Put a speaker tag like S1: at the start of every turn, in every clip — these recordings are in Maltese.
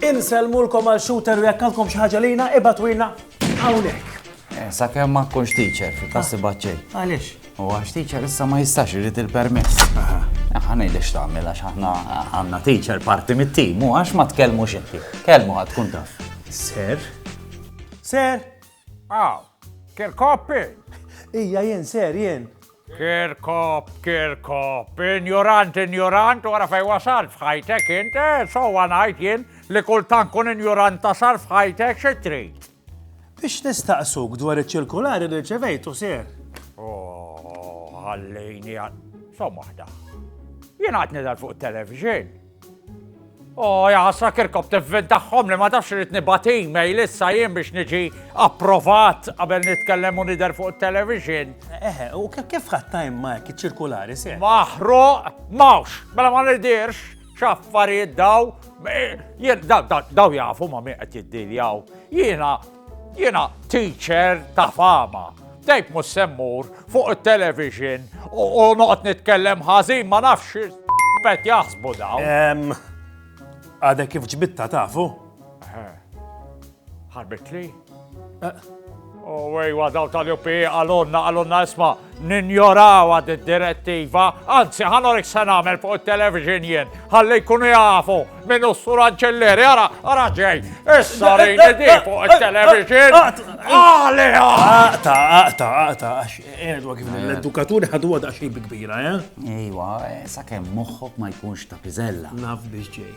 S1: Inselmu l-kom għal shooter u jekk għandkom xi ħaġa lina ibatu jina hawnhekk. Eh, sakemm
S2: ma tkunx teacher, fi klassi baċċej. Għaliex? U għax
S1: teacher
S2: issa ma jistax irid il-permess. Aħna ngħidlek x'tagħmel għax aħna għandna teacher parti mit-tim u għax ma tkellmu xinti. Kelmu ħadd tkun taf. Ser?
S1: Ser? Aw,
S3: Kirkoppi! Ija jien
S1: ser jien. Kirkop,
S3: Kirkop, injorant, injorant, wara fej wasal fħajtek int, eh, so għanajt jien li kultan kun injorant tasal fħajtek xitrit. Biex
S1: nistaqsuk dwar iċ-ċirkulari li rċevejtu, sir. Oh,
S3: ħallejni għal. Som waħda. Jien għad nidal fuq television. Oh, jaħasra kirkob tivvin tagħhom li ma tafx irid nibati email lissa jien biex niġi approvat qabel nitkellem u nidher fuq television. Eħe, u
S1: kif ħadd time ma iċ-ċirkulari se? Maħruq,
S3: mawx, mela ma nidirx. X'affarijiet daw, daw jafu ma min qed jiddiljaw. Jiena, jiena teacher ta' fama. Dejk mus semmur fuq il-television u noqgħod nitkellem ħażin ma nafx bet jaħsbu daw.
S1: Għadek kif ġbitta tafu?
S3: Ħarbet li? Owej, wadaw tal-UP, għalonna, għalonna isma, ninjoraw għad direttiva anzi ħanorek se nagħmel fuq il-television jien, ħalli jkunu jafu minn ustur anċelleri, ara, ara ġej, issa rejni di fuq il-television. Għali, għaqta,
S1: għaqta, għaqta, għax għedwa kif eh. l-edukaturi ħadu għada xej kbira, eh? Ejwa,
S2: eh, sa' kem moħħok ma jkunx ta' pizella. Naf biex ġej.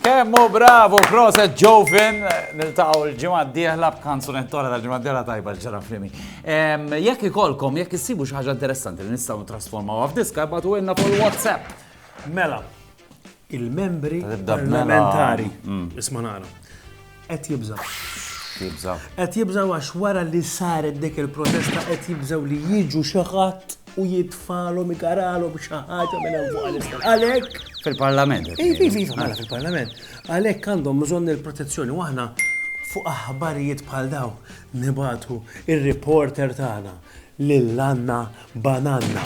S2: Kemm hu bravu, proset Joe Finn, niltaqgħu l-ġimgħa d-dieħla b'kanzunetta oħra tal-ġimgħa d-dieħla tajba l-ġara frimi. Jekk ikolkom, jekk issibu xi ħaġa interessanti li nistgħu ntrasformawha f'diska, ibgħatu ilna fuq il-WhatsApp. Mela,
S1: il-membri parlamentari, isma' nara, Qed jibżgħu. Jibżgħu. Qed jibżgħu għax wara li saret dik il-protesta qed jibżgħu li jiġu xi ħadd u jitfalhom igaralhom xi ħaġa minn hemm fuq għal Għalhekk. Fil-Parlament. Iva,
S2: iva, iva, mela
S1: fil-Parlament. Għalhekk għandhom bżonn il-protezzjoni u aħna fuq aħbarijiet bħal daw nibatu ir-reporter tagħna lil għandna Bananna.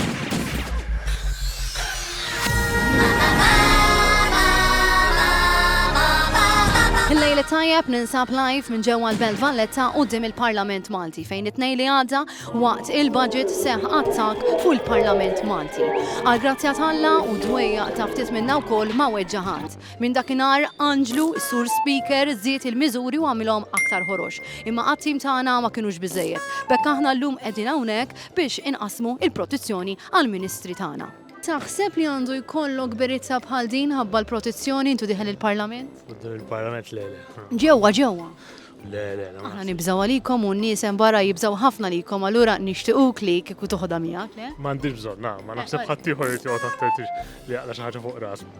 S4: Il-lejli tajjeb ninsab live minn ġewwa l-Belt Valletta u dim il-Parlament Malti fejn it-tnej li għadda waqt il-budget seħ attak fuq il-Parlament Malti. Għal grazzja talla u dwejja ta' ftit minna wkoll ma weġġaħat. Minn dakinhar Anġlu, Sur Speaker, żied il-miżuri u għamilhom aktar ħorox. Imma għat-tim tagħna ma kinux biżejjed. Bekk aħna llum qegħdin hawnhekk biex inqassmu il-protizzjoni għall-ministri tagħna. Taħseb li għandu jkollok berizza bħal din ħabba l-protizzjoni intu diħel il-parlament? Qudiem il-parlament le
S5: le. Ġewwa ġewwa.
S4: Le
S5: le. Aħna nibżgħu
S4: għalikom u n-nies hemm barra jibżgħu ħafna likom allura nixtiquk li kieku toħodha miegħek le? M'għandix bżonn, ma
S5: naħseb ħaddieħor irid joqgħod attent li jaqla' xi ħaġa fuq rasu.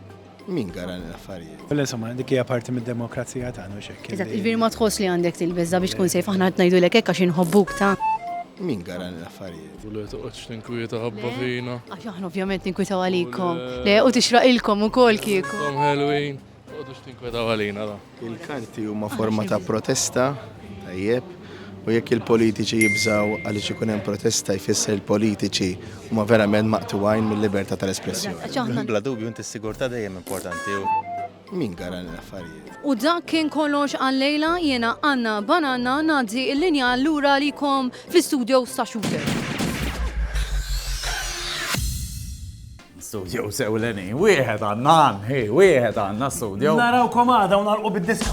S5: Min gara
S6: l-affarijiet? Mela, insomma, dik hija parti
S7: mid-demokrazija tagħna u xekk. Eżatt, iġbir ma tħoss li
S4: għandek tilbeża biex tkun sejf aħna qed ngħidulek hekk għax inħobbuk ta' Min gara
S6: l-affarijiet? U li toqgħodx tinkwieta
S5: ħabba fina. Għax aħna ovvjament
S4: ninkwitaw għalikom. Le, u tixraq ilkom ukoll kieku. Kom ħelwin,
S5: toqgħodux tinkwieta għalina da. Il-karti huma
S6: forma ta' protesta, tajjeb, u jekk il-politiċi jibżaw għaliex ikun hemm protesta jfisser il-politiċi huma verament maqtugħin
S8: mill-libertà tal-espressjoni. Bla dubju inti s-sigurtà
S6: dejjem
S8: importanti.
S6: Min gara l-affarijiet? U dak kien
S4: kollox għal-lejla jiena Anna Bananna ngħaddi l-linja lura għalikom fl-istudio sa' Shooter.
S2: Studios ewlenin, wieħed għandna għan, hi, wieħed għandna studio. Narawkom għada u nagħlqu
S1: bid-diska.